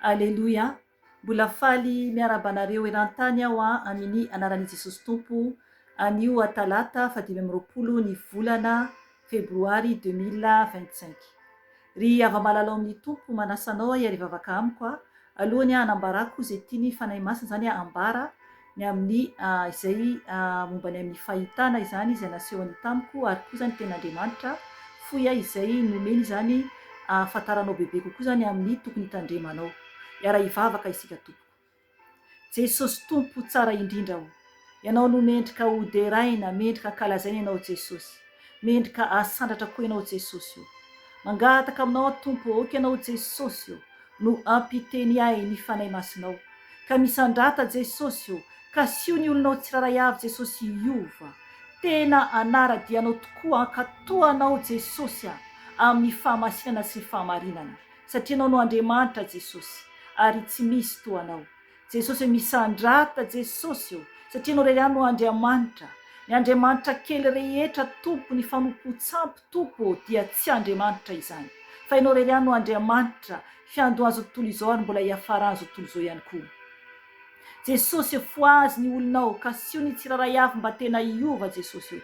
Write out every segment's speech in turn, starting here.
Aleloia, mbola faly miarahaba anareo erantany aho amini anarani Jesosy Tompo anio talata faha dimy amby roapolo ny volana febroary deux mille vingt cinq. Ry hava-malala ao amini Tompo manasa anao hiari-vavaka amiko alohany hanambarako ze tiani Fanahy Masina zany hambara ny amin'ny izay momba ny amin'ny fahitana izany izay nasehony tamiko, ary koa izany ny Tenin'Andriamanitra fohy ahy izay nomeny izany hahafantaranao bebe kokoa izany amin'ny tokony hitandremanao. Hiara hivavaka isika tompoko. Jesosy Tompo tsara indrindra o! Ianao no mendrika ho deraina, mendrika ankalazaina Ianao Jesosy. Mendrika hahasandratra koa ianao Jesosy o. Mangataka aminao aho Tompo ô, aoka ianao Jesosy ô no hampiteny ahy ny Fanahy Masinao, ka misandrata Jesosy ô, kasio ny olonao tsirairay avy Jesosy hiova tena hanara-dia anao tokoa, hankatoa anao Jesosy a, amin'ny fahamasinana sy ny fahamarinana, satria ianao no Andriamanitra Jesosy, ary tsy misy toa anao. Jesosy ô misandrata Jesosy ô satria ianao iray ihany no Andriamanitra ny Andriamanitra kely rehetra Tompo ny fanompoan-tsampy Tompo ô dia tsy Andriamanitra izany fa ianao irery ihany no Andriamanitra fiandohan'izao tontolo izao ary mbola hiafaran'izao tontolo izao ihany koa Jesosy ô fohazy ny olonao kasio ny tsirairay avy mba tena hiova Jesosy ô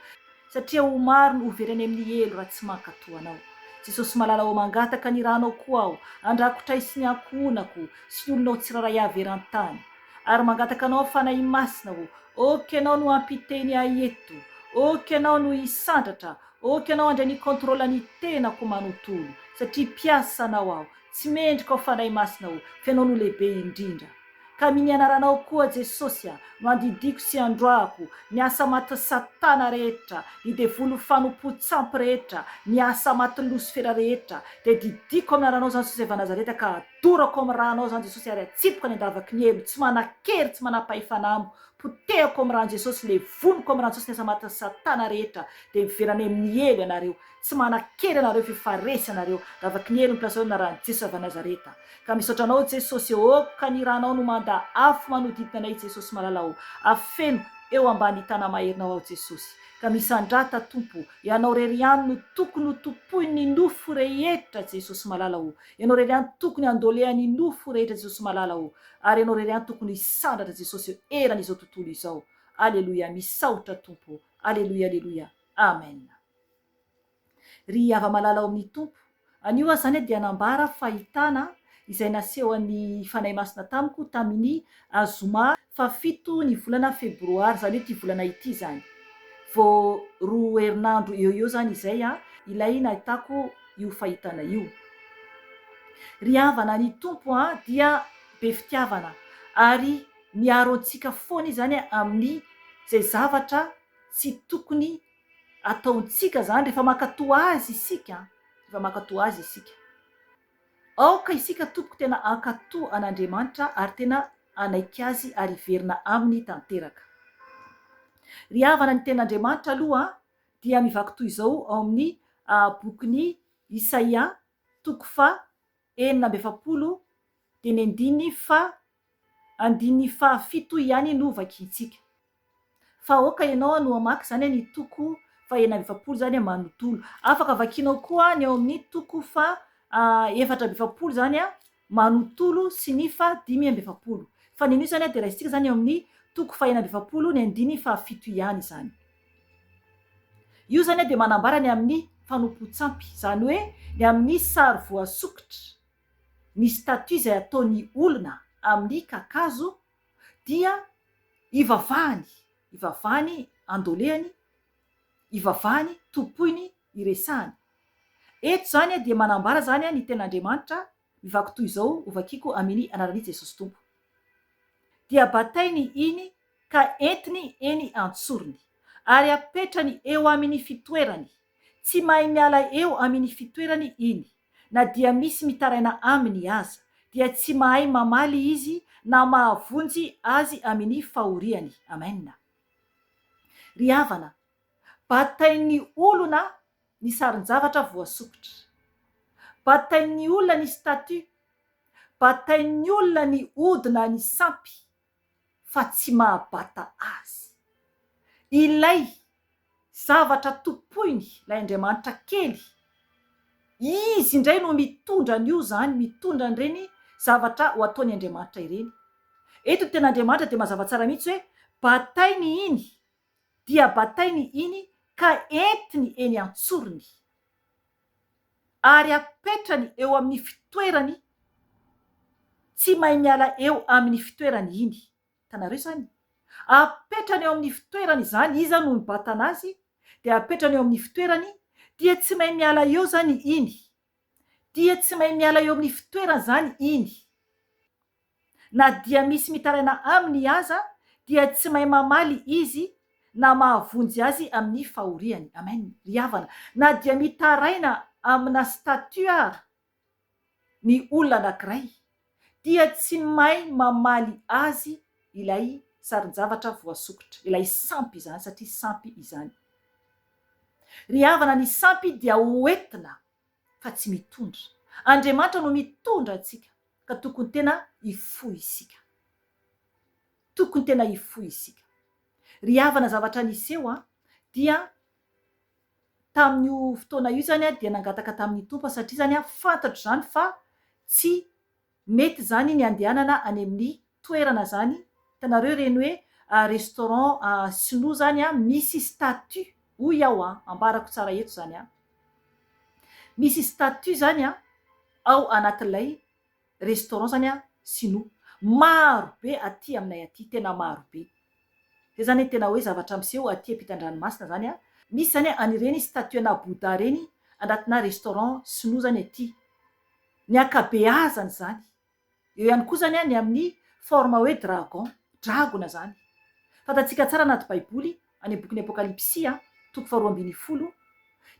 Satria ho maro no ho very any amin'ny helo raha tsy mankatò Anao. Jesosy malala ô mangataka ny Ranao koa aho handrakotray sy ny ankohonako sy ny olonao tsirairay avy eran-tany. Ary mangataka Anao Fanahy Masina ô, ok Ianao no hampiteny ahy eto, ok Ianao no hisandratra, ok Ianao handray ny contrôle ny tenako manontolo satria mpiasa Anao aho, tsy mendrika ao Fanahy Masina ô, fa Ianao no lehibe indrindra. Ka mini anaranao koa Jesosy a no andidiako sy androahako ny asa maty satana rehetra ny devoly fanompoa tsampy rehetra ny asa maty losifera rehetra dia didiako amin ananao zany Jesosy va Nazareta ka adorako amin ranao zany Jesosy ary atsipiko any andavaky ny helo tsy manakery tsy manapahefana amiko potehako amin ran Jesosy levoniko amin ran Jesosy ny asa maty satana rehetra dia miverina any amin ny helo ianareo Tsy manakely anareo fe faresy anareo ravaky ny helony mpiasa eo anarany Jesosy avy Nazareta ka misaotra anao Jesosy ô ka ny ranao no manda afo manodidina anay Jesosy malala ô afeno eo ambany tana maherinao aho Jesosy ka misandrata Tompo ianao rery ihany no tokony ho tompoin ny nofo rehetra Jesosy malala ô ianao rery ihany tokony handolean ny nofo rehetra Jesosy malala ô ary ianao rery ihany tokony hisandratra Jesosy eo eran izao tontolo izao aleloia misaotra Tompo aleloia aleloia amena. Ry hava-malala ao amin'ny Tompo. Anio aza izany dia nambara fahitana izay nasehon'ny Fanahy Masina tamiko tamin'ny azoma fahafito ny volana febroary, izany hoe ity volana ity izany. Vao roa herinandro eo ho eo izany izay ilay nahitako io fahitana io. Ry havana ny Tompo dia be fitiavana ary miaro antsika foana Izy izany amin'ny izay zavatra tsy tokony ataontsika zany rehefa mankatò Azy isika, rehefa mankatò Azy isika. Aoka isika tompoko tena hankatò an'Andriamanitra ary tena hanaiky Azy ary hiverina Aminy tanteraka. Ry havana ny Tenin'Andriamanitra aloha dia mivaky toy izao ao amin'ny bokin'i Isaia toko faha enina amby efapolo dimy andininy faha Andininy faha fito iany no vakiantsika. Fa aoka ianao no hamaky izany any toko faha enina amby efapolo izany manontolo. Afaka vakianao koa ny ao amin'ny toko faha efatra amby efapolo izany manontolo sy ny faha dimy amby efapolo. Fa ny anio izany dia raisintsika izany eo amin'ny toko faha enina amby efapolo ny andininy faha fito iany izany. Io izany dia manambara ny amin'ny fanompoan-tsampy, izany hoe ny amin'ny sary voasokitra. Ny statut izay ataon'ny olona amin'ny kakazo dia ivavahany, ivavahany andolehany, ivavahany tompoiny iresahany. Eto izany dia manambara izany ny tenin'Andriamanitra mivaky toy izao hovakiko amini anaran'i Jesosy Tompo. Dia batainy iny ka entiny eny an-tsorony ary apetrany eo amini fitoerany, tsy mahay miala eo amini fitoerany iny. Na dia misy mitaraina aminy aza, dia tsy mahay mamaly izy na mahavonjy azy amini fahoriany. Amena. Ry havana, batain'ny olona ny sarin-javatra voasokitra. Batain'ny olona ny statue. Batain'ny olona ny ody na ny sampy fa tsy mahabata azy. Ilay zavatra tompoiny ilay andriamanitra kely, izy indray no mitondra an'io izany, mitondra an'ireny zavatra ho ataon'ny andriamanitra ireny. Eto ny tena andriamanitra dia mazava tsara mihitsy hoe batainy iny, dia batainy iny ka entiny eny an-tsorony. ary apetrany eo amin'ny fitoerany tsy mahay miala eo aminy fitoerany iny hitanareo izany apetrany eo amin'ny fitoerany izany iza no mibatana azy dia apetrany eo amin'ny fitoerany dia tsy mahay miala eo izany iny dia tsy mahay miala eo amin'ny fitoerany izany iny Na dia misy mitaraina aminy aza dia tsy mahay mamaly izy na mahavonjy azy amin'ny fahoriany. Amen ry havana. Na dia mitaraina amina statue ara ny olona anankiray dia tsy mahay mamaly azy ilay sarin-javatra voasokitra, ilay sampy izany satria sampy izany. Ry havana ny sampy dia ho entina fa tsy mitondra. Andriamanitra no mitondra antsika ka tokony tena hifoha isika. Tokony tena hifoha isika. Ry havana zavatra niseho an, dia tamin'io fotoana io izany aho dia nangataka tamin'ny Tompo aho satria izany aho fantatro izany fa tsy Mety zany ny andehanana any aminy toerana zany hitanareo reny hoe restaurant sinoa zany a misy statut hoy aho a ambarako tsara eto zany a misy statut zany a ao anatilay restaurant zany a sinoa maro be aty aminay aty tena maro be zay zany ny tena hoe zavatra miseho aty ampitandranomasina zany a misy zany an'ireny statut ana bouddha reny andatina restaurant sinoa zany aty. Ny ankabeazany izany. Eo ihany koa izany ny amin'ny forme hoe dragon, dragona izany. Fantatsika tsara anaty baiboly, any amin'ny bokin'ny Apokalypsy, toko faharoa ambin'ny folo,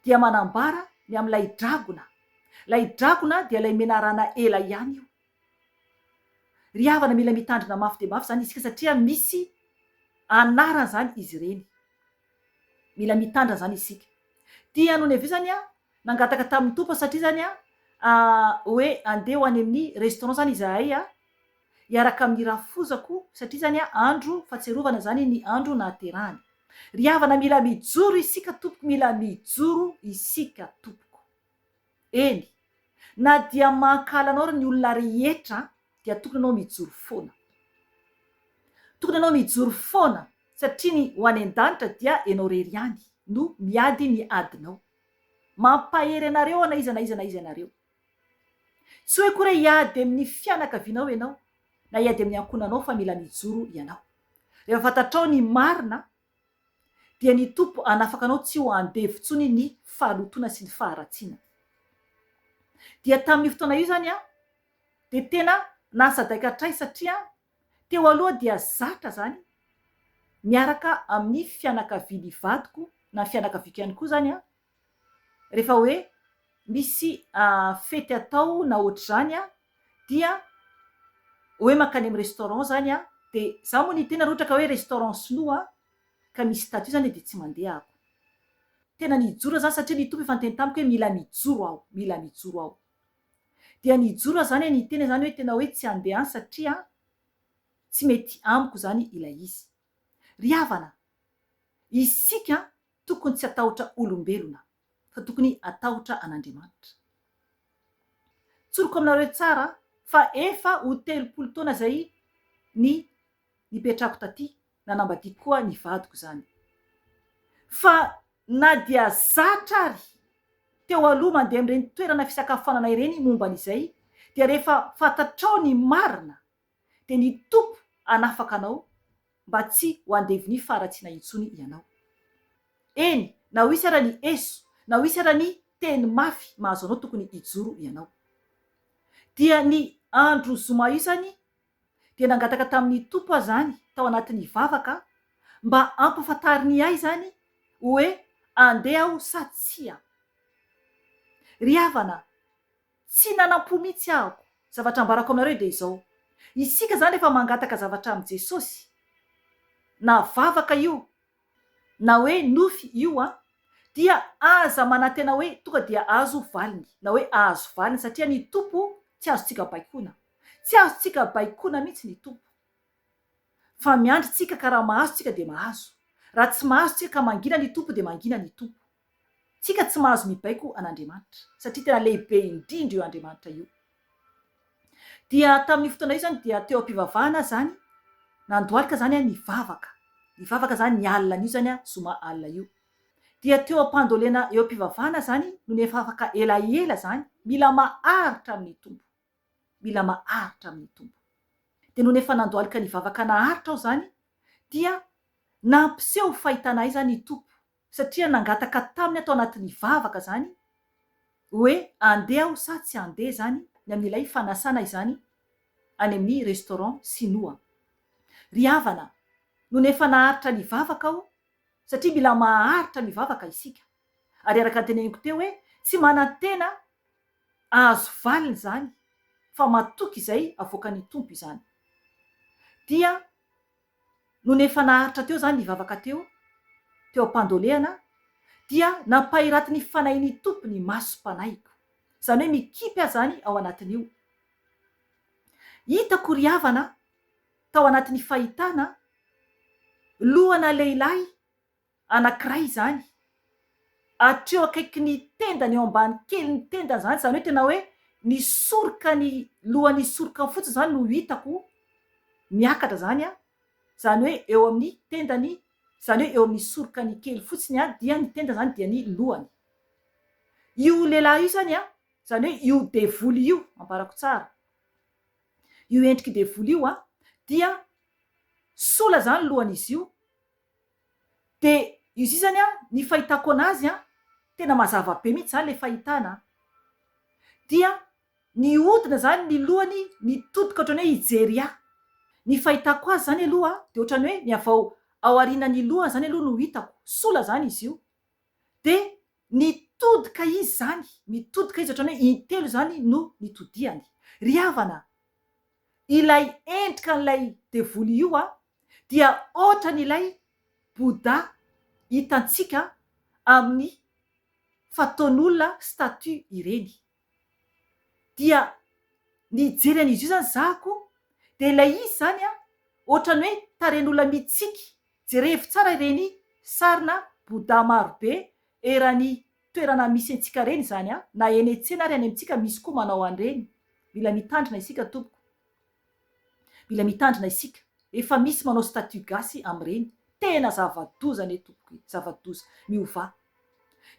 dia manambara ny amin'ilay dragona. Ilay dragona dia ilay menarana ela ihany io. Ry havana, mila mitandrina mafy dia mafy izany isika satria misy anarany izany izy ireny. Mila mitandrina izany isika. Tianao ny avy eo izany Nangataka tamin'ny Tompo aho satria zany hoe andeha ho any amin'ny restaurant zany izahay hiaraka amin'ny rafozako satria zany andro fatsiarovana zany ny andro nahaterahany. Ry havana mila mijoro isika tompoko mila mijoro isika tompoko. Eny na dia mankahala anao ary ny olona rehetra dia tokony anao mijoro foana. Tokony anao mijoro foana satria ny ho any an-danitra dia enao rery ihany no miady ny adinao. Mampahery anareo aho na iza na iza na iza ianareo. Tsy hoe akory hoe hiady amin'ny fianakavianao ianao na hiady amin'ny ankohonanao fa mila mijoro ianao. Rehefa fantatrao ny marina dia ny Tompo hanafaka anao tsy ho andevo intsony ny fahalotoana sy ny faharatsiana. Dia tamin'io fotoana io izany aho dia tena nasadaiky hatray satria Teo aloha dia zatra izany miaraka amin'ny fianakavian'ny vadiko na ny fianakaviako ihany koa izany an, rehefa hoe misy fety atao na ohatr'izany an, dia hoe mankany amin'ny restaurant izany an, dia za moa ny tena raha ohatra ka hoe restaurant sinoa ka misy statut izany dia tsy mandeha aho. Tena nijoro aho izany satria ny Tompo efa niteny tamiko hoe mila mijoro aho, mila mijoro aho. Dia ny hijoro izany ny hiteny izany hoe tena hoe tsy handeha any satria tsy mety amiko izany ilay izy. Ry havana, isika tokony tsy hatahotra olombelona fa tokony hatahotra an'Andriamanitra. Tsoriko aminareo tsara fa efa ho telopolo taona izay ny nipetrako taty nanambadiako koa ny vadiko izany. Fa na dia zatra ary teo aloha mandeha amin'ireny toerana fisakafoanana ireny momba an'izay, dia rehefa fantatrao ny marina, dia ny Tompo hanafaka anao mba tsy ho andevonia faharatsiana intsony ianao. Eny, na ho hisy ara ny eso, na ho hisy ara ny teny mafy mahazo anao tokony hijoro ianao. Dia ny andro zoma io izany dia nangataka tamin'ny Tompo aho izany tao anatin'ny vavaka mba hampafantariny ahy izany hoe andeha aho sa tsia. Ry havana, tsy nanam-po mihitsy ahako. Zavatra ambarako aminareo dia izao, isika izany rehefa mangataka zavatra amin'i Jesosy, na vavaka io na hoe nofy io an, dia aza manantena hoe tonga dia azo valiny, na hoe ahazo valiny, satria ny Tompo tsy azontsika baikoana. Tsy azontsika baikoana mihitsy ny Tompo. Fa miandry tsika ka raha mahazo tsika dia mahazo. Raha tsy mahazo tsika ka mangina ny Tompo dia mangina ny Tompo. Tsika tsy mahazo mibaiko an'Andriamanitra satria tena lehibe indrindra io Andriamanitra io. Dia tamin'io fotoana io zany dia teo am-pivavahana zany, nandohalika zany aho nivavaka, nivavaka zany ny alina anio zany aho, zoma alina io. Dia teo am-pandolena eo am-pivavahana zany no nivavaka elaela zany, mila maharitra amin'ny Tompo, mila maharitra amin'ny Tompo. Dia nony efa nandohalika nivavaka naharitra aho zany dia nampiseho fahitana ahy zany i Tompo, Satria nangataka taminy ato anatin'ny vavaka izany hoe andeha aho sa tsy andeha izany ny amin'ilay fanasana izany any amin'ny restaurant sinoa. Ry havana, nony efa naharitra ny vavaka aho, satria mila maharitra ny vavaka isika, ary araka ny teneniko teo hoe tsy manantena ahazo valiny izany fa matoky izay avoakan'ny Tompo izany, dia nony efa naharitra teo izany ny vavaka teo, teo am-pandolehana, dia nampahiratin'ny fanahin'ny Tompo ny masom-panahiko. Izany hoe mikipy aza any ao anatin'io. Hitako ry havana, tao anatin'ny fahitana, lohana lehilahy anankiray izany, hatreo akaiky ny tendany, eo ambany kelin'ny tendany izany, izany hoe tena hoe ny sorokany, lohan'ny sorokany fotsiny izany no hitako miakatra izany an, izany hoe eo amin'ny tendany, izany hoe eo amin'ny sorokany kely fotsiny an, dia ny tendany izany dia ny lohany. Io lehilahy io izany an, izany hoe io devoly io, ambarako tsara, io endrik'i devoly io an, dia sola izany lohan'izy io, De izy io zany an, ny fahitako anazy an, tena mazava be mihitsy zany le fahitana an, dia nihodina zany ny lohany nitodika otrany hoe hijery ahy, ny fahitako azy zany aloha an, de otrany hoe ny avy ao aorianany lohany zany aloha no hitako, sola zany izy io, de nitodika izy zany, nitodika izy otrany hoe intelo zany no nitodihany, ry havana an, ilay endrika an'ilay devoly io an, dia hoatran' ilay Bouddha hitantsika amin' ny fataon' olona statue ireny. Dia nijery an' izy io izany za ko, dia ilay izy izany an, hoatran' ny hoe tarehin' olona mitsiky, jerevo tsara ireny sarina Bouddha maro be eran' ny toerana misy antsika ireny izany an, na eny an-tsena ary any amintsika misy koa manao an' ireny. Mila mitandrina isika tompoko. Mila mitandrina isika. Efa misy manao statut gasy amin'ireny. Tena zava-doza anie tompoko e! Zava-doza. Miovà.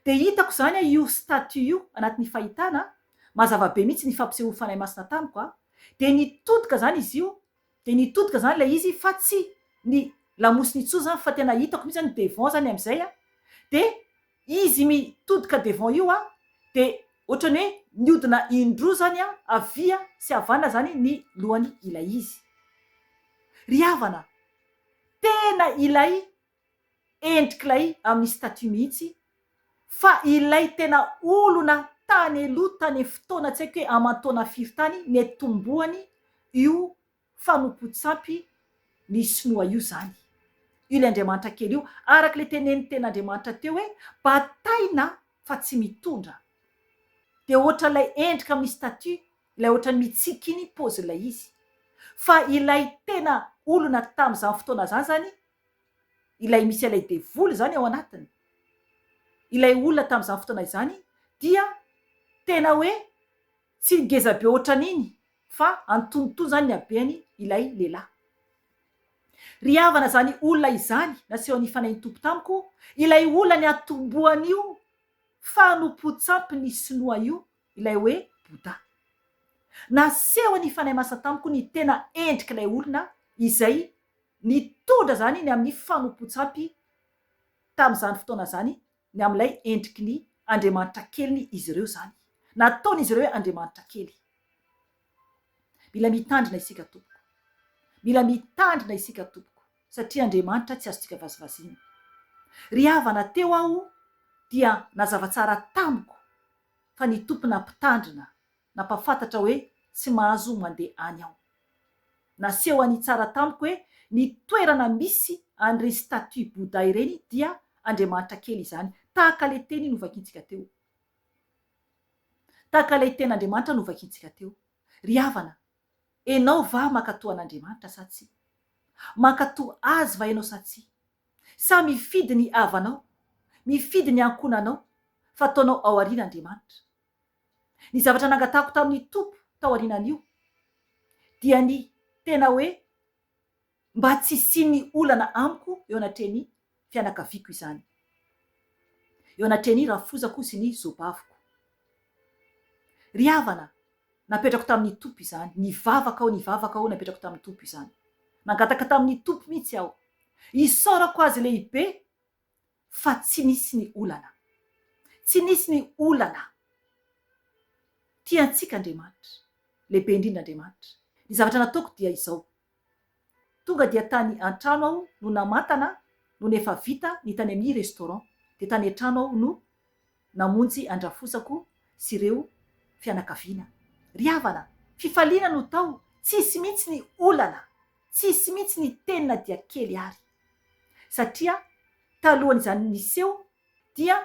Dia hitako izany a io statut io anatin'ny fahitana a! Mazava be mihitsy ny fampisehoan'ny Fanahy Masina tamiko a! Dia nitodika izany izy io, dia nitodika izany ilay izy fa tsy ny lamosiny intsony izany fa tena hitako mihitsy izany devant izany amin'izay a! Dia. Izy mi todika devant io a de otrany hoe miodina in droa zany a avia sy havanana zany ny lohany ilay izy. Ry havana tena ilay endrik'ilay amin'ny statut mihitsy fa ilay tena olona tany aloha tany fotoana tsy haiko hoe aman-taona firy tany netombohany io fanompoan-tsampy ny sinoa io izany. Io ilay andriamanitra kely io. Araka ilay tenenin'ny tena Andriamanitra teo hoe bataina fa tsy mitondra. Dia hoatran'ilay endrika amin'ny statue, ilay hoatran'ny mitsiky iny paozin'ilay izy. Fa ilay tena olona tamin'izany fotoana izany izany, ilay misy an'ilay devoly izany ao anatiny, ilay olona tamin'izany fotoana izany dia tena hoe. Tsy ngeza be ohatran'iny fa antonontonony zany ny habeny ilay lehilahy. Ry havana zany olona izany nasehon' i Fanahintompo tamiko ilay olona niatombohan'io fanompoan-tsampin'ny sinoa io ilay hoe Bouddha. Nasehon' i Fanahy Masina tamiko ny tena endrik'ilay olona izay nitondra zany ny amin'ny fanompoan-tsampy tamin'izany fotoana zany Ny amin'ilay endriky ny andriamanitra keliny izy ireo izany. Nataon'izy ireo hoe andriamanitra kely. Mila mitandrina isika tompoko. Mila mitandrina isika tompoko, satria Andriamanitra tsy azontsika vazivaziana. Ry havana teo aho dia nazava tsara tamiko fa ny Tompo nampitandrina Nampahafantatra hoe tsy mahazo mandeha any aho. Nasehony tsara tamiko hoe ny toerana misy an'ireny statue Bouddha ireny dia andriamanitra kely izany, tahaka ilay teny novakintsika teo. Tahaka ilay tenin'Andriamanitra novakintsika teo. Ry havana, enao va mankatoa an'Andriamanitra sa tsia? Mankatoa Azy va enao sa tsia? Sa mifidy ny havanao, mifidy ny ankonanao, fa ataonao ao aoriana Andriamanitra? Ny zavatra nangatahako tamin'ny Tompo taorianan'io dia ny tena hoe mba tsy hisian'ny olana amiko eo anatrehan'ny fianakaviako izany, eo anatrehan'ny rafozako sy ny zobaviko. Ry havana, napetrako tamin'ny Tompo izany, nivavaka aho, nivavaka aho, napetrako tamin'ny Tompo izany. Nangataka tamin'ny Tompo mihitsy aho. Isaorako Azy lehibe. fa tsy nisy ny olana. Tsy nisy ny olana. Tia antsika Andriamanitra. Lehibe indrindra Andriamanitra. Ny zavatra nataoko dia izao. Tonga dia tany an-trano aho no namantana nony efa vita ny tany amin'ny restaurant, dia tany an-trano aho no namonjy an-drafozako sy ireo fianakaviana. Ry havana, fifaliana no tao, tsisy mihitsy ny olana, tsisy mihitsy ny teny na dia kely ary. satria talohan'izany niseho dia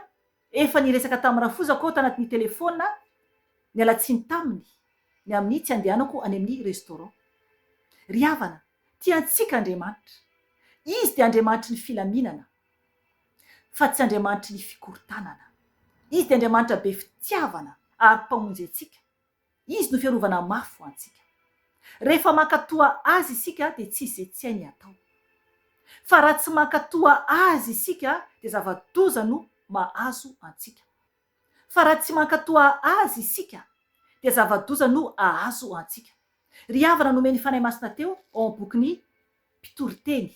efa niresaka tamin'i Rafoza koa tanatin'ny telefaona niala tsiny taminy ny amin'ny tsy andehanako any amin'ny restaurant. Ry havana, tia antsika Andriamanitra. Izy dia Andriamanitry ny filaminana fa tsy Andriamanitry ny fikorontanana. Izy dia Andriamanitra be fitiavana ary Mpamonjy antsika. Izy no fiarovana mafy ho antsika. Rehefa mankatoa Azy isika dia tsy izay tsy hainy atao. Fa raha tsy mankatoa Azy isika dia zava-doza no mahazo antsika. Fa raha tsy mankatoa Azy isika dia zava-doza no ahazo antsika. Ry havana nomen'ny Fanahy Masina teo ao amin'ny bokin'ny Mpitoriteny.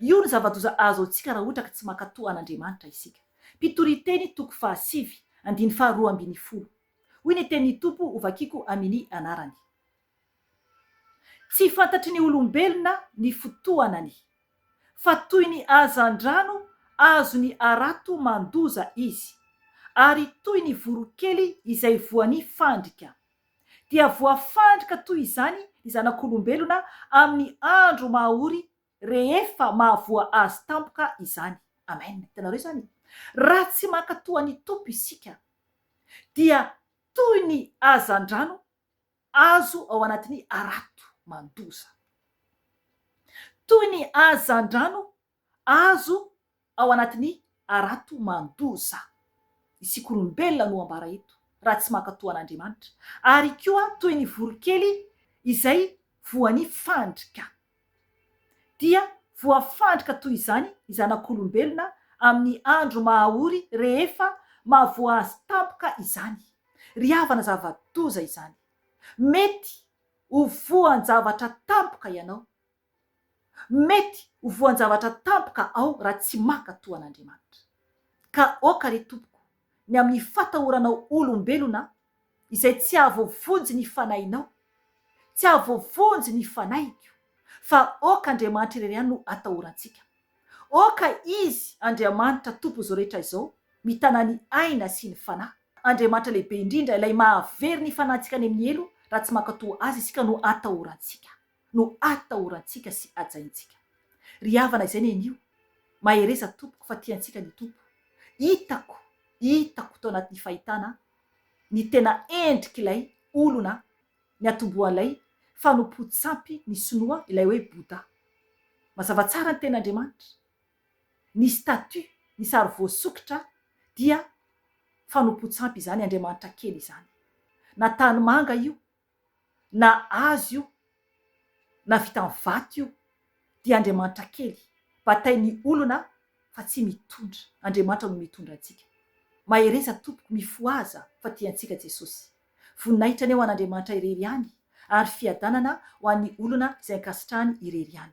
Io no zava-doza azo antsika raha ohatra ka tsy mankatoa an'Andriamanitra isika. Mpitoriteny toko fahasivy, andiny faharoa ambin'ny folo. Hoy ny tenin'ny Tompo, Hovakiko amin' ny anarany. Tsy fantatry ny olombelona ny fotoanany, fa toy ny hazandrano azony arato mandoza izy, ary toy ny voronkely izay voany fandrika. Dia voafandrika toy izany ny Zanak'olombelona amin'ny andro maha ory Rehefa mahavoa azy tampoka izany. Amen. Hitanareo izany? Raha tsy mankatò an'i Tompo isika, dia toy ny hazandrano azo ao anatin'ny harato mandoza. Toy ny hazandrano azo Ao anatin'ny harato mandoza. Isika olombelona no ambara eto raha tsy mankatò an'Andriamanitra, ary koa toy ny voronkely izay voan'ny fandrika. Dia voafandrika toy izany ny zanak'olombelona amin'ny andro maha-ory rehefa mahavoa azy tampoka izany. Ry havana zava-doza izany. Mety ho voan-javatra tampoka ianao, Mety ho voan-javatra tampoka aho raha tsy maka toa an'Andriamanitra. Ka aoka re Tompoko ny amin'ny fatahoranao olombelona izay tsy hahavoavonjy ny fanahinao, tsy hahavoavonjy ny fanahiko, fa aoka Andriamanitra irery ihany no atahorantsika. Aoka Izy, Andriamanitra Tompo izao rehetra izao, mitana ny aina sy ny fanahy. Andriamanitra lehibe indrindra, ilay mahavery ny fanahintsika any amin'ny helo, raha tsy maka toa Azy isika no atahorantsika. no atahorantsika sy ajaintsika. Ry havana izay nenio, mahereza tompoko fa tiantsika ny Tompo. Hitako, hitako tao anatin'ny fahitana ny tena endrik'ilay olona niatombohan'ilay fanompoan-tsampy ny sinoa ilay hoe Bouddha. Mazava tsara ny tenin'Andriamanitra. Ny statue, ny sary voasokitra dia fanompoan-tsampy izany, andriamanitra kely izany. Na tanimanga io, na hazo io na vita amin'ny vato io dia Andriamanitra kely, batain'ny olona fa tsy mitondra, Andriamanitra no mitondra antsika. Mahereza tompoko mifohaza fa tiantsika Jesosy. Voninahitra ny ho an'Andriamanitra irery ihany ary fiadanana ho an'ny olona izay ankasitrahany irery ihany.